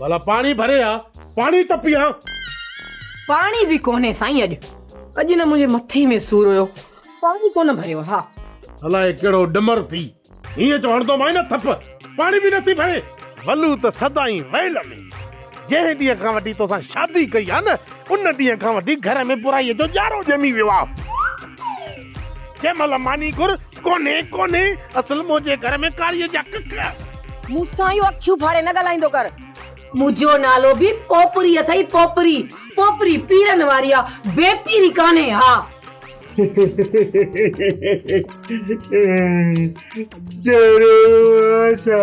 ڀلا پاڻي ڀري آ، پاڻي ته پيئان. پاڻي به ڪونهي سائين اڄ. اڄ نه منهنجي مٿي ۾ سور هيو، پاڻي ڪونه ڀريو ها. الاء ڪهڙو ڏمر ٿي هينئن جو هڻندومانء نه ٿڦ، پاڻي به نٿي ڀري. ولو ته سدائين ويل ۾. جنهن ڏينهن کان وٺي توسان شادي ڪئي آ نه، ان ڏينهن کان وٺي گهر ۾ برائيء جو ڄارو ڄمي ويو آ. جنهن مهل ماني گهر. ڪونهي ڪونهي اصل منهنجي گهر ۾ ڪاريء جا ڪڪ. مون سان اهو اکيون ڦاڙي نه ڳالهائيندو ڪر. منهنجو نالو به پوپري اٿئي پوپري. پوپري پيرن واري آ بي پيري ڪانهي ها. چريو آ ڇا؟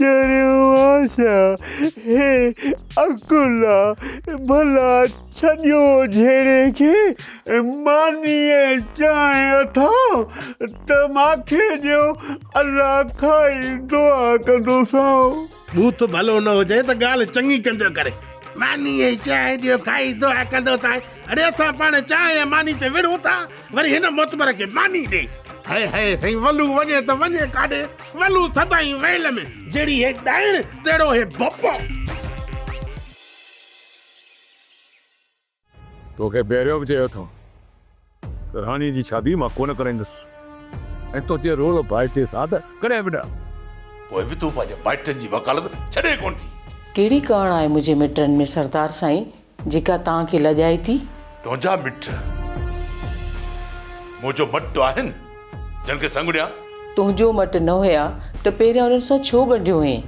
چريون آسا هي عقلا ڀلا ڇڏيو جهيڙي کي مانيء چانهه اٿا ته ماکي ڏيو الله کائي دعا ڪندوسانو. بوٿ ڀلو نه هجئي ته ڳالهه چڱي ڪنجو ڪري. مانيء چانهه ڏيو کائي دعا ڪندوسانء اڙي اسان پاڻ چانهه ۽ ماني تي وڙهون ٿا. وري هن معتبر کي ماني ڏي. هئي هئي سائين ولو وڃي ته وڃي ڪاڏي ولو سدائين ويل ۾ جهڙي هي ڏائڻ تهڙو هي بپو. توکي پهريون به چيو اٿم ته راڻي جي شادي مان ڪونه ڪرائيندس ۽ تنهنجي رول ڀائٽي سان ته ڪڏهن به نه. پوء به تون پنهنجي مائٽن جي وڪالت ڇڏين ڪونه ٿي. ڪهڙي ڪاڻ آهي منهنجي مٽن ۾ سردار سائين جيڪا توهان کي لڄائي ٿي. تنهنجا مٽ منهنجو مٽ آهن، جن کي سنگهڙيان. تنهنجو مٽ نه هيا ته پهريان انهن سان ڇو ڳنڍيو هئين؟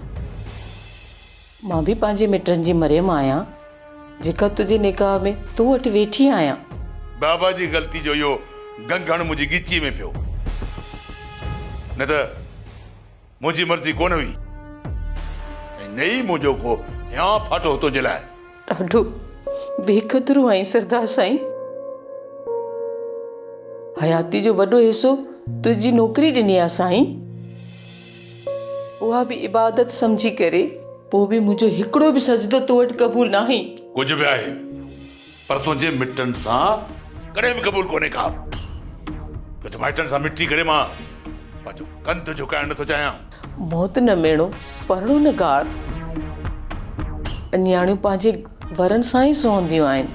مان به پنهنجي مٽن جي مريم آهيان، جيڪا تنهنجي نڪاح ۾ تو وٽ ويٺي آهيان. بابا جي غلطي جو اهو گنگهڻ منهنجي ڳچيء ۾ پيو، نه ته. منهنجي مرضي ڪونه هئي ۽ نه ئي منهنجو ڪو هيان ڦاٽو هو تنهنجي لاء. ڏاڍو بي قدرو آهين سردار سائين. حياتي جو وڏو حصو تنهنجي نوڪري ڏني آهي سائين. اها به عبادت سمجهي ڪري. پوء به منهنجو هڪڙو به سجدو تو وٽ قبول ناهي. ڪجهه به آهي پر تنهنجي مٽن سان ڪڏهن به قبول ڪونهي ڪا. تنهنجي مائٽن سان مٽي ڪري مان پنهنجو ڪنڌ جهڪائڻ نٿو چاهيان. موت نه ميڻو، پرڻو نه گار. نياڻيون پنهنجي ورن سان ئي سهنديون آهن.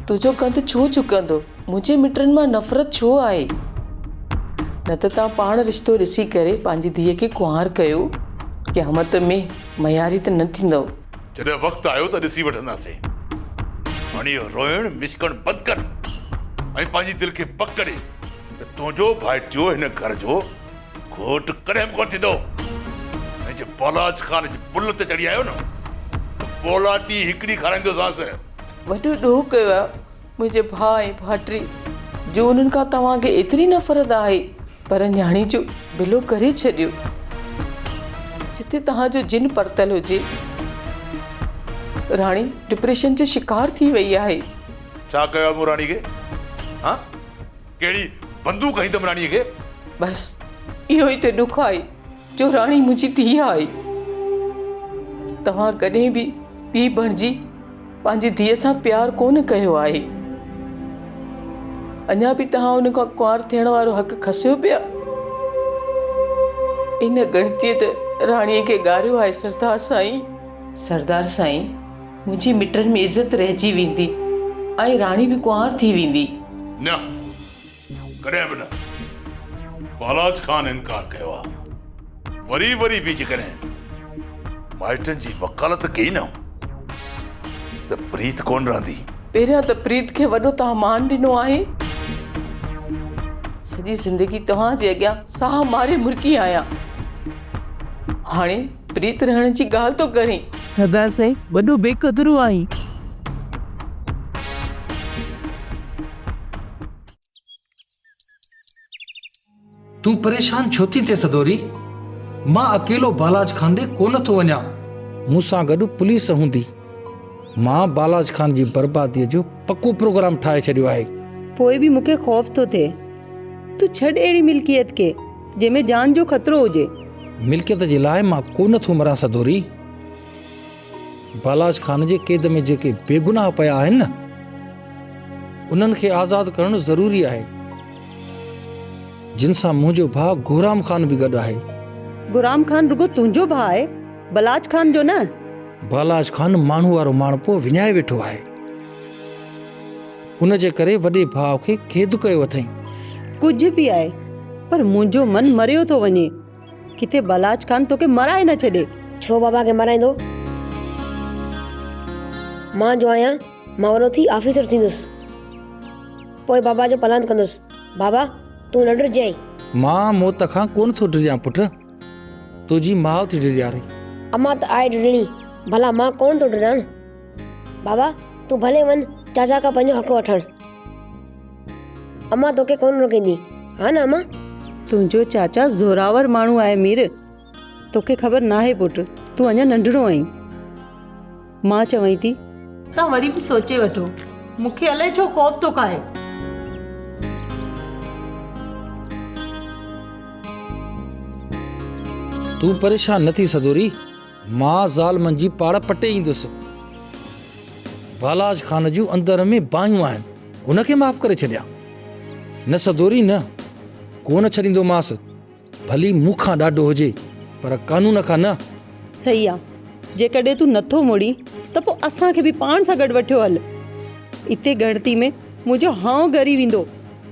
تنهنجو ڪنڌ ڇو جهڪندو؟ منهنجي مٽن مان نفرت ڇو آهي؟ نه ته توهان پاڻ رشتو ڏسي ڪري پنهنجي ڌيء کي ڪنوار ڪيو. قيامت ۾ مياري ته نه ٿيندؤ. جڏهن وقت آيو ته ڏسي وٺنداسين. هاڻي اهو روئڻ مشڪڻ بند ڪر ۽ پنهنجي دل کي پڪ ڪري ته تنهنجو ڀائٽيو هن گهر جو گهوٽ ڪڏهن به ڪونه ٿيندو ۽ جي پولاچ خان جي پل تي چڙهي آيو نه ته پولاٽي هڪڙي کارائيندوسانس. وڏو ڏوهه ڪيو آهي. منهنجي ڀاء ۽ ڀائٽي جو انهن کان توهان کي ايتري نفرت آهي پر نياڻي جو بلو ڪري ڇڏيو جتي توهان جو جن پرتل هجي راڻي ڊپريشن جو شڪار ٿي وئي آهي. ڇا ڪيو آهي مون راڻي کي ها ڪهڙي بندوق هنئي اٿم راڻي کي. بس اهو ئي ته ڏک آهي جو راڻي منهنجي ڌيء آهي توهان ڪڏهن به پيء بڻجي پنهنجي ڌيء سان پيار ڪونه ڪيو آهي. اڃا به توهان ان کان ڪنوار ٿيڻ وارو حق کسيو پيا. ان ڳڻتيء ته راڻيء کي ڳاريو آهي سردار سائين. سردار سائين، منهنجي مٽن ۾ عزت رهجي ويندي ۽ راڻي به ڪنوار ٿي ويندي. نه! ڪڏهن به نه. پالاج خان انڪار ڪيو آ. وري وري به جيڪڏهن مائٽن جي وڪالت ڪئي نه ته پريت ڪونه رهندي. پهريان ته پريت کي وڏو تان مان ڏنو آهي. سڄي زندگي توهان جي اڳيان ساهه ماري مرڪي آهيان. هاڻي پريت رهڻ جي ڳالهه ٿو ڪرين. سردار سائين وڏو بي قدرو آهين. تون پريشان ڇو ٿي ٿئي سدوري. مان اڪيلو بالاچ خان ڏي ڪونه ٿو وڃان. مون سان گڏ پوليس هوندي. مان بالاچ خان جي بربادي جو پڪو پروگرام ٺاهي ڇڏيو آهي. پوء به مون کي خوف ٿو ٿئي. تون ڇڏ اهڙي ملڪيت کي. جنهن ۾ جان جو خطرو هجي. ملڪيت جي لاء مان ڪو نه ٿو مران سدوري. بالاچ خان جي قيد ۾ جيڪي بيگناهه پيا آهن نه انهن کي آزاد ڪرڻ ضروري آهي. جن سان منهنجو ڀاء گهرام خان به گڏ آهي. گهرام خان رڳو تنهنجو ڀاء آهي بالاچ خان جو نه. بالاچ خان ماڻهو وارو ماڻهپو وڃائي ويٺو آهي. ان جي ڪري وڏي ڀاء کي قيد ڪيو اٿئين. ڪجهه به آهي پر منهنجو من مريو ٿو وڃي. ڪٿي بلاچ خان توکي مرائي نه ڇڏي. ڇو بابا کي مرائيندو؟ مان جو آهيان مان وڏو ٿي آفيسر ٿيندس. پوء بابا جو پلاند ڪندس. بابا تون نه ڊڄجانء. مان موت کان ڪونه ٿو ڊڄان پٽ. تنهنجي ماء ٿي ڊيڄاري. امان ته آهي ڊڄڻي. ڀلا مان ڪونه ٿو ڊڄان. بابا تون ڀلي وڃ چاچا کان پنهنجو حق وٺڻ امان توکي ڪونه روڪيندي ها نه امان تنهنجو چاچا زوراور ماڻهو آهي مير توکي خبر ناهي پٽ تون اڃا ننڍڙو آهين مان چوائين ٿي تان وري به سوچي وٺو مونکي الائي ڇو خوف ٿو کائي. تون پريشان نه ٿي سدوري. مان زال منجهي پاڙ پٽي ايندس. بالاچ خان جون اندر ۾ باهيون آهن، هن کي معاف ڪري ڇڏيان. نه سدوري نه، ڪو نه ڇڏيندومانس، ڀلي مون کان ڏاڍو هجي، پر قانون کان نه. صحيح آ، جيڪڏهن تون نٿو مڙين ته پوء اسان کي به پاڻ سان گڏ وٺيو هل. اتي ڳڻتي ۾ منهنجو هانء ڳري ويندو.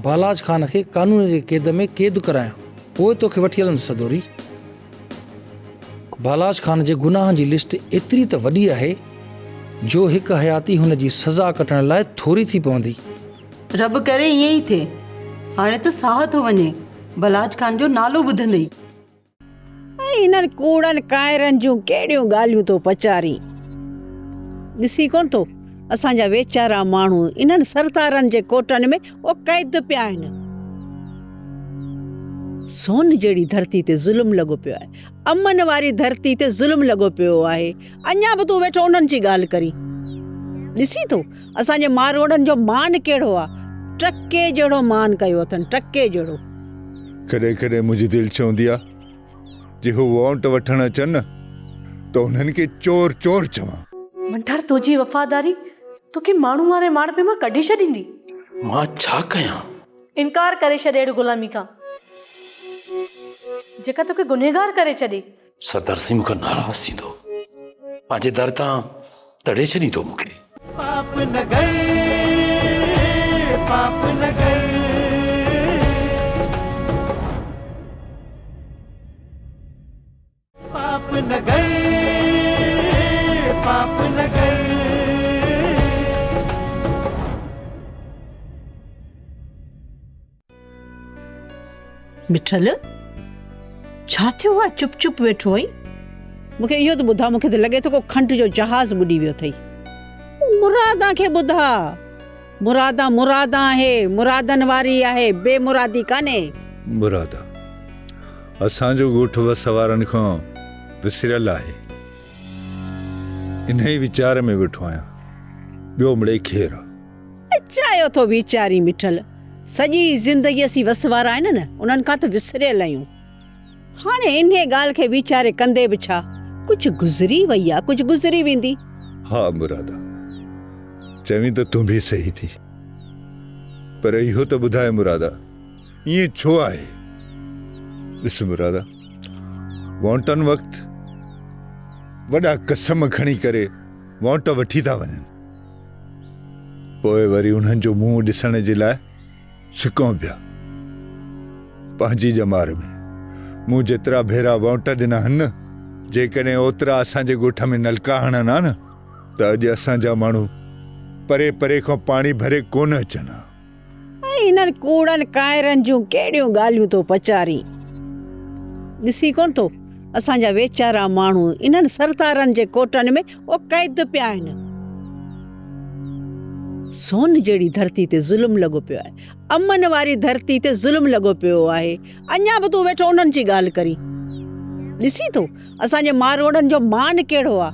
بالاچ خان کي قانون جي قيد ۾ قيد ڪرايان، پوء توکي وٺي هلندس سدوري. بالاچ خان جي گناهن جي لسٽ ايتري ته وڏي آهي جو هڪ حياتي هن جي سزا ڪٽڻ لاء ٿوري ٿي پوندي. رب ڪري ائين ئي ٿئي. هاڻي ته ساهه ٿو وڃي بالاچ خان جو نالو ٻڌندي ئي. ۽ هنن ڪوڙن ڪائرن جون ڪهڙيون ڳالهيون ٿو پچارين. ڏسين ڪونه ٿو اسان جا ويچارا ماڻهو انهن سردارن جي ڪوٽن ۾ او قيد پيا آهن. سون جهڙي ڌرتي تي ظلم لڳو پيو آهي. امن واري ڌرتي تي ظلم لڳو پيو آهي. اڃا به تون ويٺو انهن جي ڳالهه ڪرين. ڏسين ٿو اسان جي ماروئڙن جو مان ڪهڙو آهي. ٽڪي جهڙو مان ڪيو اٿن ٽڪي جهڙو. ڪڏهن ڪڏهن منهنجي دل چوندي آهي جي هو وونٽ وٺڻ اچن نه ته انهن کي چور چور چوان. منٺار تنهنجي وفاداري توکي ماڻهو واري ماڙپي مان ڪڍي ڇڏيندي. مان ڇا ڪيان؟ انڪار ڪري ڇڏ اهڙي غلامي کان جيڪا توکي گنهگار ڪري ڇڏي. سردار سين مون کان ناراض ٿيندو پنهنجي در تان تڙي ڇڏيندو مون کي. پاپ نگر پاپ نگر. مٺل ڇا ٿيو آ چپ چپ ويٺو آهين مون کي اهو ته ٻڌاء مون کي ته لڳي ٿو ڪو کنڊ جو جهاز ٻڏي ويو اٿئي مراد کي ٻڌاء مرادا مرادا آهي، مرادن واري آهي، بي مرادي ڪانهي. مرادا اسان جو ڳوٺ وس وارن کان وسريل آهي، انهيء ويچار ۾ ويٺو آهيان، ٻيو مڙئي کير آ. چاهيو ٿو ويچارين مٺل، سڄي زندگي اسين وس وارا آهن نه، انهن کان ته وسريل آهيون. هاڻي انهيء ڳالهه کي ويچاري ڪندي به ڇا؟ ڪجهه گذري وئي آ، ڪجهه گذري ويندي. ها مرادا، چوين ته تون به صحيح ٿي. پر اهو ته ٻڌاء مرادا، ائين ڇو آهي؟ ڏس مرادا، وانٽن وقت وڏا قسم کڻي ڪري وانٽ وٺي ٿا وڃن. پوء وري انهن جو منهن ڏسڻ جي لاء سڪون پيا پنهنجي ڄمار ۾. مون جيترا ڀيرا وونٽ ڏنا آهن نه، جيڪڏهن اوترا اسان جي ڳوٺ ۾ نلڪا هڻن ها نه ته اڄ اسان جا ماڻهو پري پري کان پاڻي ڀري ڪونه اچن ها. ۽ انهن ڪوڙن ڪائرن جون ڪهڙيون ڳالهيون ٿو پچارين. ڏسين ڪونه ٿو اسان جا ويچارا ماڻهو انهن سردارن جي ڪوٽن ۾ او قيد پيا آهن. سون جهڙي ڌرتي تي ظلم لڳو پيو آهي. امن واري ڌرتي تي ظلم لڳو پيو آهي. اڃا به تون ويٺو انهن جي ڳالهه ڪرين. ڏسين ٿو اسان جي ماروئڙن جو مان ڪهڙو آهي.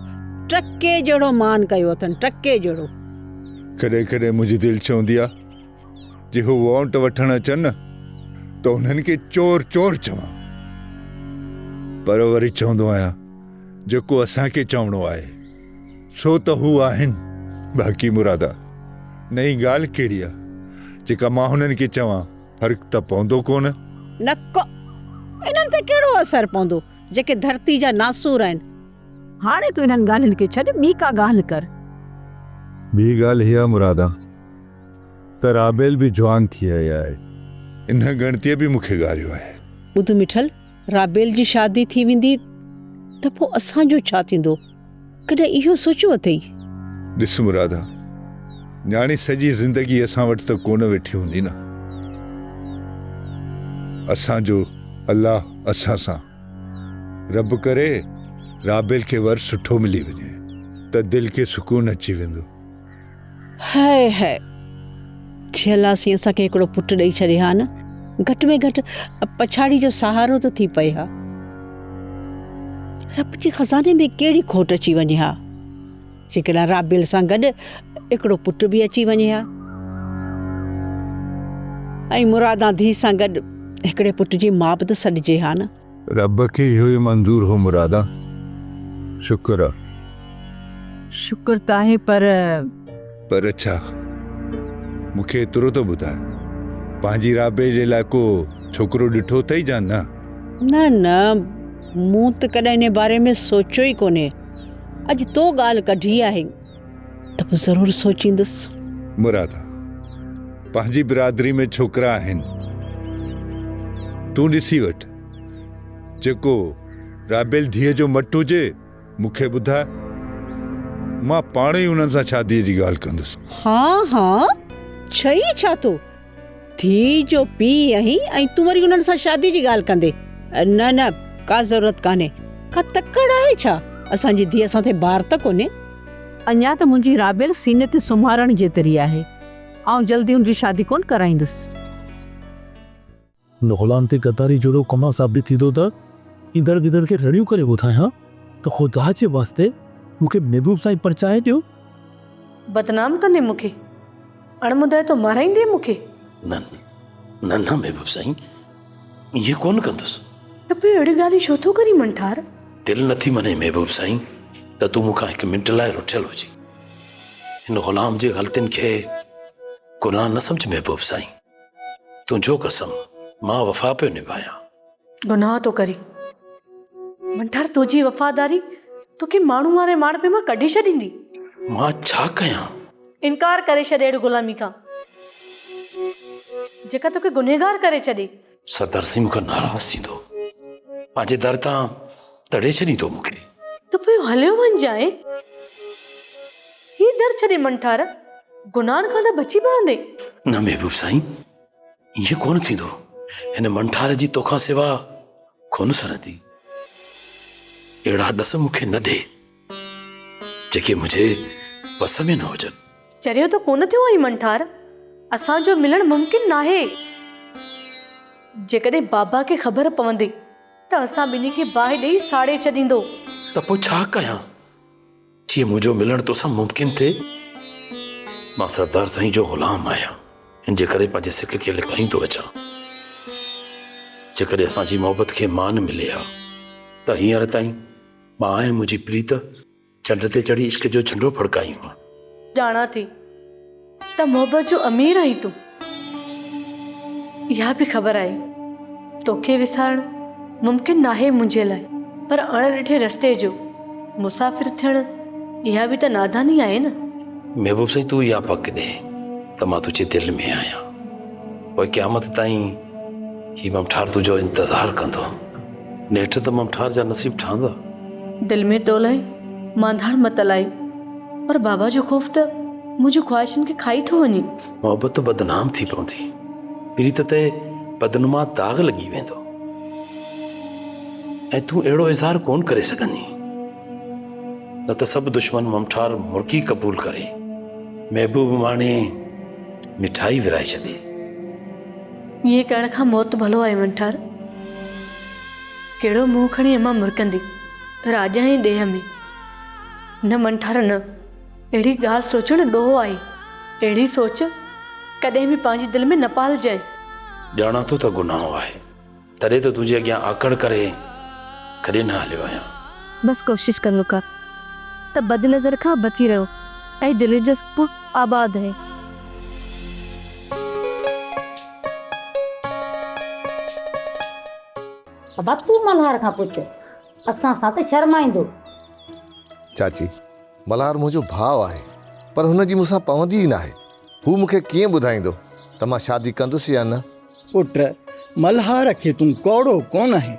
ٽڪي جهڙو مان ڪيو اٿن ٽڪي جهڙو. ڪڏهن ڪڏهن منهنجي دل چوندي آهي جي هو وونٽ وٺڻ اچن نه ته انهن کي چور چور چوان. پر وري چوندو آهيان. جيڪو اسان کي چوڻو آهي، ڇو ته هو آهن. باقي مرادا، نئين ڳالهه ڪهڙي آ، جيڪا مان هنن کي چوان، فرق ته پوندو ڪونه؟ نڪ، انهن تي ڪهڙو اثر پوندو، جيڪي ڌرتي جا ناسور آهن. هاڻي تون انهن ڳالهين کي ڇڏ، ٻي ڪا ڳالهه ڪر. ٻي ڳالهه هيء آ مرادا، ته رابيل به جوان ٿي آئي آهي. انهن ڳڻتيء به مون کي ڳاريو آهي. ٻڌ مٺل! رابيل جي شادي ٿي ويندي ته پوء اسان جو ڇا ٿيندو؟ ڪڏهن اهو سوچيو اٿئي؟ ڏس مرادا، نياڻي سڄي زندگي اسان وٽ ته ڪونه ويٺي هوندي نه. اسان جو الله اسان سان. رب ڪري رابيل کي ور سٺو ملي وڃي ته دل کي سڪون اچي ويندو. هئه هئه! جهيلاسين اسان کي هڪڙو پٽ ڏئي ڇڏي ها نه، گهٽ ۾ گهٽ پڇاڙي جو سهارو ته ٿي پئي ها. رب جي خزاني ۾ ڪهڙي کوٽ اچي وڃي ها، جيڪڏهن رابيل سان گڏ هڪڙو پٽ به اچي وڃي ها ۽ مرادان ڌيء سان گڏ هڪڙي پٽ جي ماء به ته سڏجي ها نه. رب کي اهو ئي منظور هو مرادا. شڪر آ. شڪر ته آهي پر. پر ڇا؟ مون کي ايترو ته ٻڌاء. پنهنجي رابعي جي لاء ڪو ڇوڪرو ڏٺو اٿئي جا نه؟ نه نه مون ته ڪڏهن انهي باري ۾ سوچيو ئي ڪونهي. اڄ تو ڳالهه ڪڍي آهي. ته پوء ضرور سوچيندس. مرادا! پنهنجي برادري ۾ ڇوڪرا آهن. تون ڏسي وٺ. جيڪو رابيل ڌيء جو مٽ هجي، مون کي ٻڌاء. مان پاڻ ئي انهن سان شاديء جي ڳالهه ڪندس. هان هان! ڇهين ڇا ٿو؟ ڌيء جو پيء آهين ۽ تون وري انهن سان شادي جي ڳالهه ڪندي نه نه ڪا ضرورت ڪانهي ڪا تڪڙ آهي ڇا اسان جي ڌيء اسان تي بار ته ڪونهي. اڃا ته منهنجي رابيل سيني تي سمهارڻ جيتري آهي آئون جلدي ان جي شادي ڪونه ڪرائيندس. هن غلام تي غداري جهڙو ڪم ثابت ٿيندو ته ايندڙ ويندڙ کي رڙيون ڪري ٻڌايان ته خدا جي واسطي مون کي محبوب سائين پرچائي ڏيو. بدنام ڪندين مون کي؟ اڻ مدعيتو مارائيندين مون کي؟ نه نه نه محبوب سائين ائين ڪونه ڪندس. ته پوء اهڙيون ڳالهيون ڇو ٿو ڪرين منٺار؟ دل نه ٿي مڃين محبوب سائين ته تون مون کان هڪ منٽ لاء رٺيل هجين. هن غلام جي غلطين کي گناهه نه سمجهه محبوب سائين. تنهنجو قسم مان وفا پيو نڀايان. گناهه ٿو ڪرين منٺار تنهنجي وفاداري توکي ماڻهو واري ماڻهپي مان ڪڍي ڇڏيندي. مان ڇا ڪيان؟ انڪار ڪري ڇڏ اهڙي غلامي کان جيڪا توکي گنهگار ڪري ڇڏي. سردار سين مون کان ناراض ٿيندو پنهنجي در تان تڙي ڇڏيندو مون کي. ته پوء هليو وڃجانء. هي در ڇڏي منٺار گناهن کان ته بچي پوندين. نه محبوب سائين ائين ڪونه ٿيندو. هن منٺار جي تو کان سوا ڪونه سرندي. اهڙا ڏس مون کي نه ڏي جيڪي منهنجي وس ۾ نه هجن. چريو ته ڪونه ٿيو آهين منٺار. اسان جو ملڻ ممڪن ناهي. جيڪڏهن بابا کي خبر پوندي ته اسان ٻنهي کي باهه ڏئي ساڙي ڇڏيندو. ته پوء ڇا ڪيان؟ جيئن منهنجو ملڻ توسان ممڪن ٿئي. مان سردار سائين جو غلام آهيان، ان جي ڪري پنهنجي سڪ کي لڪائيندو اچان. جيڪڏهن اسان جي محبت کي مان ملي ها ته هينئر تائين مان ۽ منهنجي پريت چنڊ تي چڙهي عشق جو جهنڊو ڦڙڪايون ها. ڄاڻان ٿي. ته محبت جو امير آهين تون. اها به خبر آهي توکي وسارڻ ممڪن ناهي منهنجي لاء. پر اڻ ڏٺي رستي جو مسافر ٿيڻ اها به ته ناداني آهي نه. محبوب سائين تون اها پڪ ڏي ته مان تنهنجي دل ۾ آهيان. پوء قيامت تائين هي ممٺار تنهنجو انتظار ڪندو. نيٺ ته ممٺار جا نصيب ٺهندا. دل ۾ تو لاء مانڌاڻ مت لائي. پر بابا جو خوف ته منهنجون خواهشن کي کائي ٿو وڃي. محبت ته بدنام ٿي پوندي. پريت تي بدنما داغ لڳي ويندو. ۽ تون اهڙو اظهار ڪونه ڪري سگهندين. نه ته سڀ دشمن ممٺار مرڪي قبول ڪري، محبوب ماڻي، مٺائي ورهائي ڇڏي. ائين ڪرڻ کان موت ڀلو آهي ونٺار! ڪهڙو منهن کڻي امان مرڪندي راڄ ۽ ڏيهه ۾؟ نه ونٺار نه! اهڙي ڳالهه سوچڻ ڏوهه آهي. اهڙي سوچ ڪڏهن به پنهنجي دل ۾ نه پالجانء. ڄاڻان ٿو ته گناهه آهي، تڏهن ته تنهنجي اڳيان آڪڙ ڪري ڪڏهن نه هليو آهيان. بس ڪوشش ڪر ونٺار ته بد نظر کان بچي رهو ۽ دلير جذبو آباد هي. ابا تون ملهار کان پڇ اسان سان ته شرمائيندو. چاچي ملهار منهنجو ڀاء آهي پر هن جي مون سان پوندي ئي ناهي هو مون کي ڪيئن ٻڌائيندو ته مان شادي ڪندس يا نه. پٽ ملهار کي تون ڪوڙو ڪونه آهين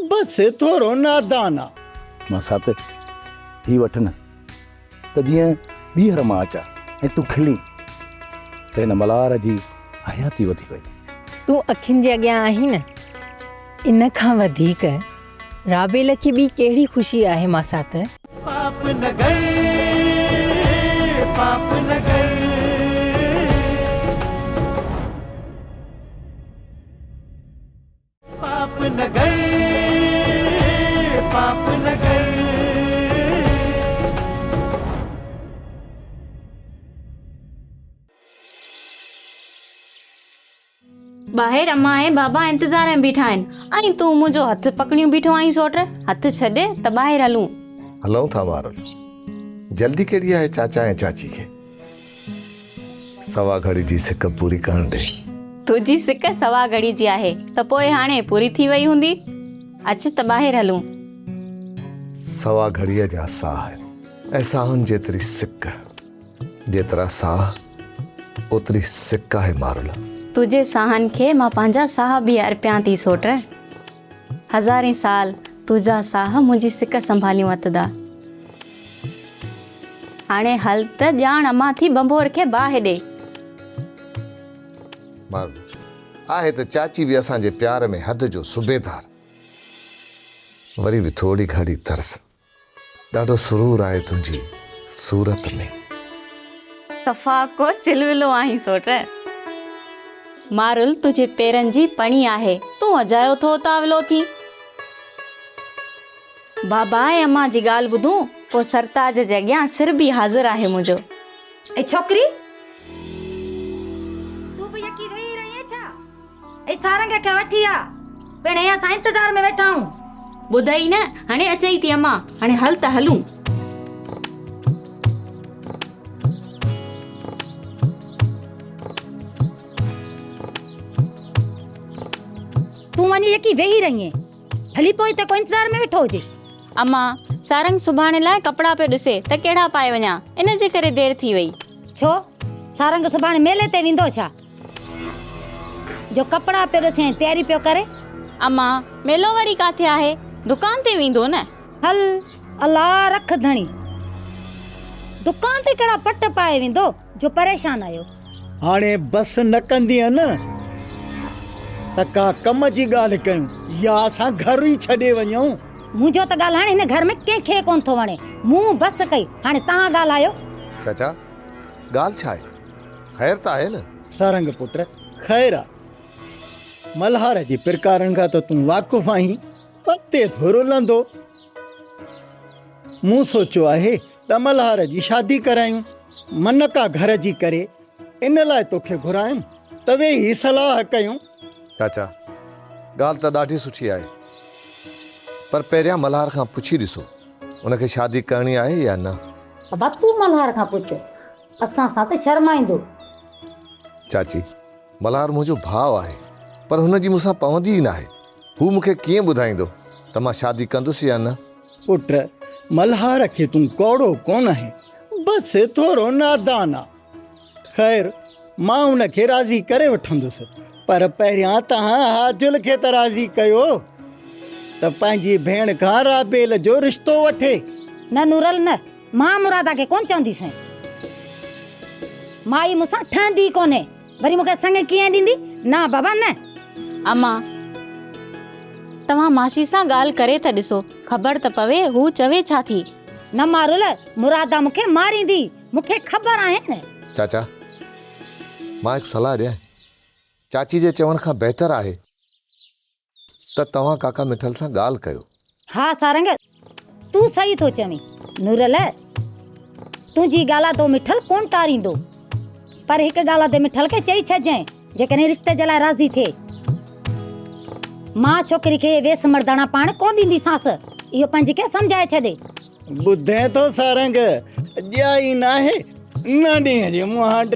بس ٿورو نادان آ. مان سات هي وٺ نه. ته جيئن ٻيهر مان اچان ۽ تون کلين ته هن ملهار جي حياتي وڌي وئي. تون اکين جي اڳيان آهين نه. ان کان وڌيڪ رابيل کي ٻي ڪهڙي خوشي آهي ماسات. پاپ نگر پاپ نگر. ٻاهر امان ۽ بابا انتظار ۾ بيٺا آهن ۽ تون منهنجو هٿ پڪڙيون بيٺو آهين سوٽ هٿ ڇڏ ته ٻاهر هلون هلون ٿا مارل جلدي ڪهڙي آهي چاچا ۽ چاچي کي سوا گهڙي جي سڪ پوري ڪرڻ ڏي. تنهنجي سڪ سوا گهڙي جي آهي ته پوء هاڻي پوري ٿي وئي هوندي. اچ ته ٻاهر هلون. سوا گهڙيء جا ساهه ۽ ساهن جيتري سڪ. جيترا ساهه اوتري سڪ آهي مارل. تنهنجي ساهن کي مان پنهنجا ساهه به ارپيان ٿي سوٽ. هزارين سال تنهنجا ساهه منهنجي سڪ سنڀاليون اٿدا. هاڻي هل ته ڄاڻ امان ٿي ڀنڀور کي باهه ڏي. مارو آهي ته چاچي به اسان جي پيار ۾ حد جو صوبيدار. وري به ٿورڙي گهڻي ترس. ڏاڍو سرور آهي تنهنجي صورت ۾. صفا ڪو چلولو آهين سوٽ. مارول تنهنجي پيرن جي پڻي آهي. تون اجايو ٿو تاولو ٿين. بابا ۽ امان جي ڳالهه ٻڌون پوء سرتاج جي اڳيان سر به حاضر آهي منهنجو. اي ڇوڪري! تون به يڪي ويهي رهين ائين ڇا؟ اي سارنگ کي وٺي آ، پڻ هي اسان انتظار ۾ ويٺا آهيون. ٻڌئي نه، هاڻي اچئي ٿي امان، هاڻي هل ته هلون. تون وڃي يڪي ويهي رهين. ڀلي پوء هتي ڪو انتظار ۾ ويٺو هجي. امان، سارنگ سڀاڻي لاء ڪپڙا پيو ڏسي ته ڪهڙا پائي وڃان، ان جي ڪري دير ٿي وئي. ڇو؟ سارنگ سڀاڻي ميلي تي ويندو ڇا جو ڪپڙا پيو ڏسي ۽ تياري پيو ڪري. امان، ميلو وري ڪاٿي آهي؟ دڪان تي ويندو نه. هل، الا رک ڌڻي، دڪان تي ڪهڙا پٽ پائي ويندو. جو پريشان آهيو. هاڻي بس نه ڪندينء نه ته ڪا ڪم جي ڳالهه ڪيون يا اسان گهر ئي ڇڏي وڃون. منهنجو ته ڳالهائڻ هن گهر ۾ ڪنهن کي ڪونه ٿو وڻي. مون بس ڪئي، هاڻي توهان ڳالهايو. چاچا، ڳالهه ڇا آهي؟ خير ته آهي نه؟ سارنگ پٽ، خير آ. ملهار جي پرڪارن کان ته تون واقف آهين. اڳتي ٿورو لهندو. مون سوچيو آهي. ته ملهار جي شادي ڪرايون من ڪا گهر جي ڪري ان لاء توکي گهرايم ته ويهي صلاح ڪيون. چاچا ڳالهه ته ڏاڍي سٺي آهي پر پهريان ملهار کان پڇي ڏسو ان کي شادي ڪرڻي آهي يا نه. بابا تون ملهار کان پڇ اسان سان ته شرمائيندو. چاچي ملهار منهنجو ڀاء آهي پر هن جي مون سان پوندي ئي ناهي هو مون کي ڪيئن ٻڌائيندو ته مان شادي ڪندس يا نه. پٽ، ملهار کي تون ڪوڙو ڪونه آهين، بس ٿورو نادان آ. خير، مان ان کي راضي ڪري وٺندس، پر پهريان توهان حاجل کي ته راضي ڪيو ته پنهنجي ڀيڻ کان رابيل جو رشتو وٺي. نه نورل نه، مان مرادا کي ڪونه چونديسين. مائي مون سان ٺهندي ئي ڪونهي. وري مون کي سڱ ڪيئن ڏيندي؟ نه بابا نه. امان، توهان ماسي سان ڳالهه ڪري ته ڏسو، خبر ته پوي هو چوي ڇا ٿي. نه مارول، مرادا مون کي ماريندي، مون کي خبر آهن. چاچا، مان هڪ صلاح ڏيانء؟ چاچي جي چوڻ کان بهتر آهي. ته توهان ڪاڪا مٺل سان ڳالهه ڪيو. ها سارنگ! تون صحيح ٿو چوين. نورل! تنهنجي ڳالهه تي مٺل ڪونه ٽاريندو. پر هڪ ڳالهه تي مٺل کي چئي ڇڏجانء، جيڪڏهن رشتي جي لاء راضي ٿئي. مان ڇوڪري کي ويس مرداڻا پاڻ ڪونه ڏينديسانس. اهو پنهنجي کي سمجهائي ڇڏي. ٻڌين ٿو سارنگ! ڄائي ناهي، نه ڏينهن جي مهانڊ.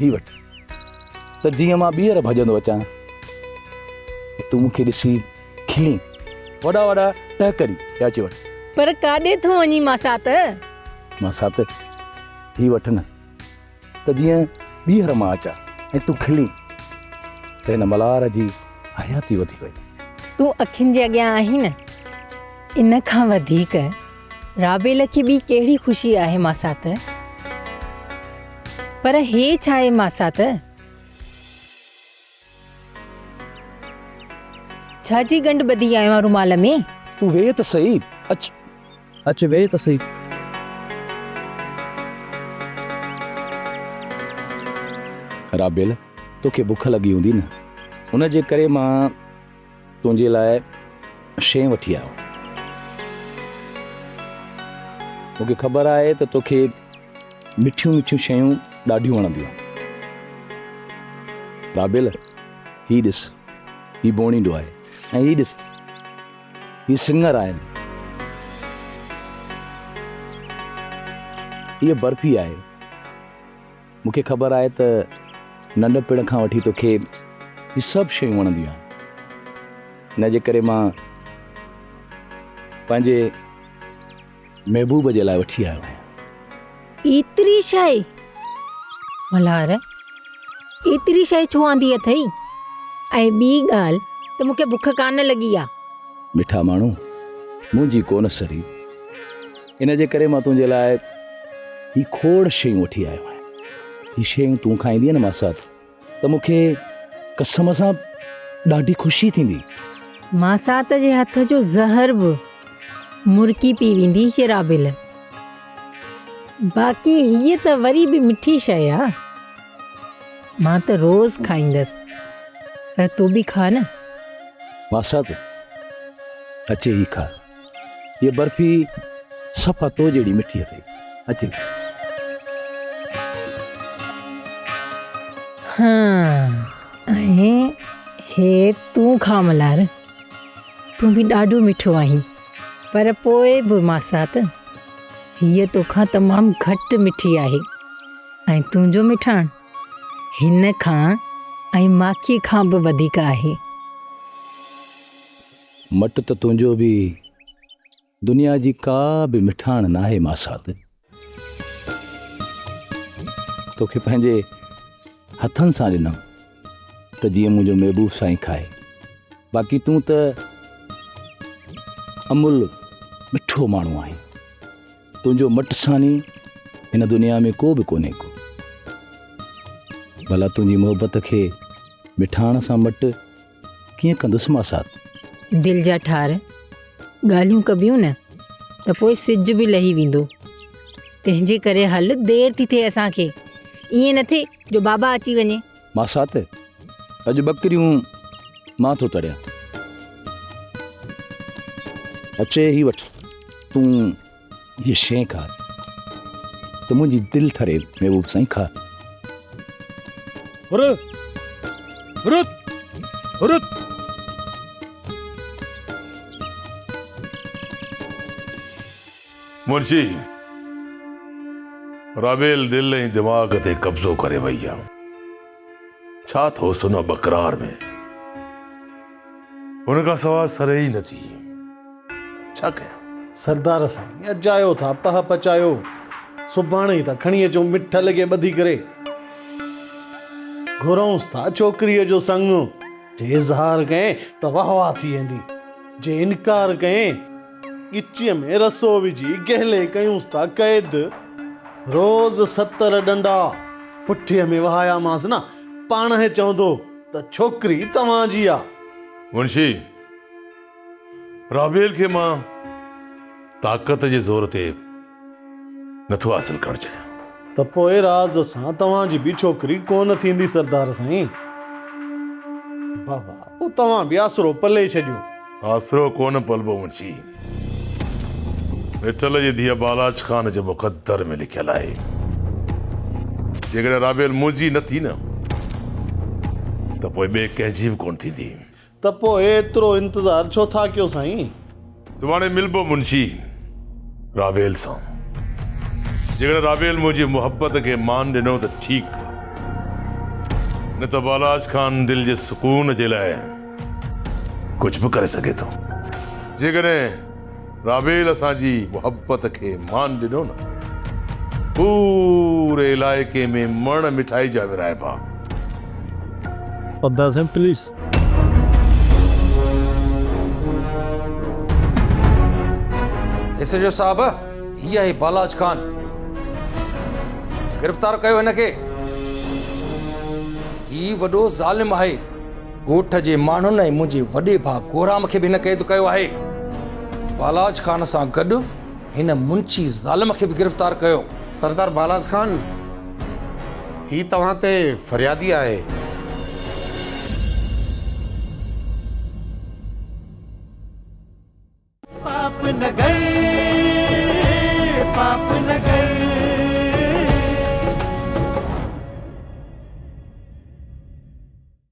هي وٺ ته جيئن مان ٻيهر ڀڄندو اچان ۽ تون مون کي ڏسي کلين. وڏا وڏا ٽهڪري يا اچي وٺ. پر ڪاڏي ٿو وڃين ماسات؟ ماسات هي وٺ نه ته جيئن ٻيهر مان اچان ۽ تون کلين ته هن ملهار جي حياتي وڌي وئي. تون اکين جي اڳيان آهين نه ان کان وڌيڪ. رابيل کي ٻي ڪهڙي خوشي آهي ماسات؟ پر هي ڇا آهي ماسات؟ ڇا جي ڳنڍ ٻڌي آيو آهي رومال ۾؟ تون ويهه ته سهي، اچ. اچ ويهه ته سهي. رابيل، توکي بک لڳي هوندي نه؟ ان جي ڪري مان. تنهنجي لاء شين وٺي آيو. مون کي خبر آهي ته توکي مٺيون مٺيون شيون ڏاڍيون وڻنديون آهن. قابل! هي ڏس، هي بونيڊو آهي ۽ هي ڏس، هي سڱر آهن. هيء برفي آهي. مون کي خبر آهي ته ننڍپڻ کان وٺي توکي هي سڀ شيون وڻنديون آهن ان جي ڪري مان پنهنجي محبوب جي لاء وٺي آيو آهيان. ايتري شيء! ملهار، ايتري شيء ڇو آندي اٿئي؟ ۽ ٻي ڳالهه ته مون کي بک ڪانه لڳي آهي. مٺا ماڻهو، منهنجي ڪونه سڙي. ان جي ڪري مان تنهنجي لاء هي کوڙ شيون وٺي آيو آهيان هي شيون تون کائيندينء نه ماسات ته مون کي قسم سان ڏاڍي خوشي ٿيندي ماسات جي هٿ جو زهر به مرڪي پي ويندي هيرابيل باقي هيء ته وري به مٺي شيء آ مان ته روز کائيندس پر تون به کاء نه ماسات اچي هي کاء هيء برفي صفا تو جهڙي مٺي اٿئي. اچي. ها ۽ هي تون کاء ملهار. تون به ڏاڍو مٺو آهين. پر پوء به ماسات هيء توکان تمام گهٽ مٺي آهي ۽ تنهنجو مٺاڻ هن کان ۽ ماکيء کان به وڌيڪ آهي. مٽ ته تنهنجو به دنيا جي ڪا به مٺاڻ ناهي ماسات. توکي پنهنجي هٿن سان ڏنم ته جيئن منهنجو محبوب سائين کائي. باقي تون ته امول مٺو ماڻهو آهين. تنهنجو مٽ ساني هن دنيا ۾ ڪو به ڪونهي ڪو. ڀلا تنهنجي محبت کي مٺاڻ سان مٽ ڪيئن ڪندس مان ساٿ. دل جا ٺار ڳالهيون ڪبيون نه ته پوء سج به لهي ويندو تنهن جي ڪري هل دير ٿي ٿئي اسان کي ائين نه ٿئي جو بابا اچي وڃي. مان ساٿ اڄ ٻڪريون مان ٿو تڙيان. اچي هي وٺ تون. هيء شيء کاء ته منهنجي دل ٺري محبوب سائين کاء. هر هر هر منشي رابيل دل ۽ دماغ تي قبضو ڪري وئي آ. ڇا اٿوس ان ٻڪرار ۾؟ ان کان سواء سرهي ئي نٿي. ڇا ڪيان؟ سردار سائين اجايو ٿا پهه پچايو. سڀاڻي ئي ٿا کڻي اچون مٺل کي ٻڌي ڪري. گهرئونس ٿا ڇوڪريء جو سڱ. جي اظهار ڪئين ته واهه واهه ٿي ويندي. جي انڪار ڪئين. ڳچيء ۾ رسو وجهي گهلي ڪيونس ٿا قيد. روز ستر ڏنڊا پٺيء ۾ وهايامانس نه، پاڻ هي چوندو ته ڇوڪري توهان جي آ. منشي، رابيل کي مان طاقت جي زور تي نه ٿو حاصل ڪرڻ چاهيان. ته پوء راز سان توهان جي به ڇوڪري ڪونه ٿيندي سردار سائين. بابا، پوء توهان به آسرو پلي ڇڏيو. آسرو ڪونه پلبو منشي. مٺل جي ڌيء بالاچ خان جي مقدر ۾ لکيل آهي. جيڪڏهن رابيل منهنجي نه ٿي نه ته پوء ٻئي ڪنهن جي به ڪونه ٿيندي. ته پوء ايترو انتظار ڇو ٿا ڪيو سائين؟ تو هاڻي ملبو منشي راويل سان. جيڪڏهن راويل منهنجي محبت کي مان ڏنو ته ٺيڪ، نه ته والاج خان دل جي سڪون جي لاء ڪجهه به ڪري سگهي ٿو. جيڪڏهن. رابيل اسان جي محبت کي مان ڏنو نه. پوري علائقي ۾ مڻ مٺائي جا ورهائبا. ادا سائين پليز. ايس ايڇ او صاحب هي آهي بالاچ خان گرفتار ڪيو هن کي هي وڏو ظالم آهي. ڳوٺ جي ماڻهن ۽ منهنجي وڏي ڀاء گورام کي به هن قيد ڪيو آهي. بالاچ خان سان گڏ هن منشي ظالم کي به گرفتار ڪيو. سردار بالاچ خان، هي توهان تي فريادي آهي.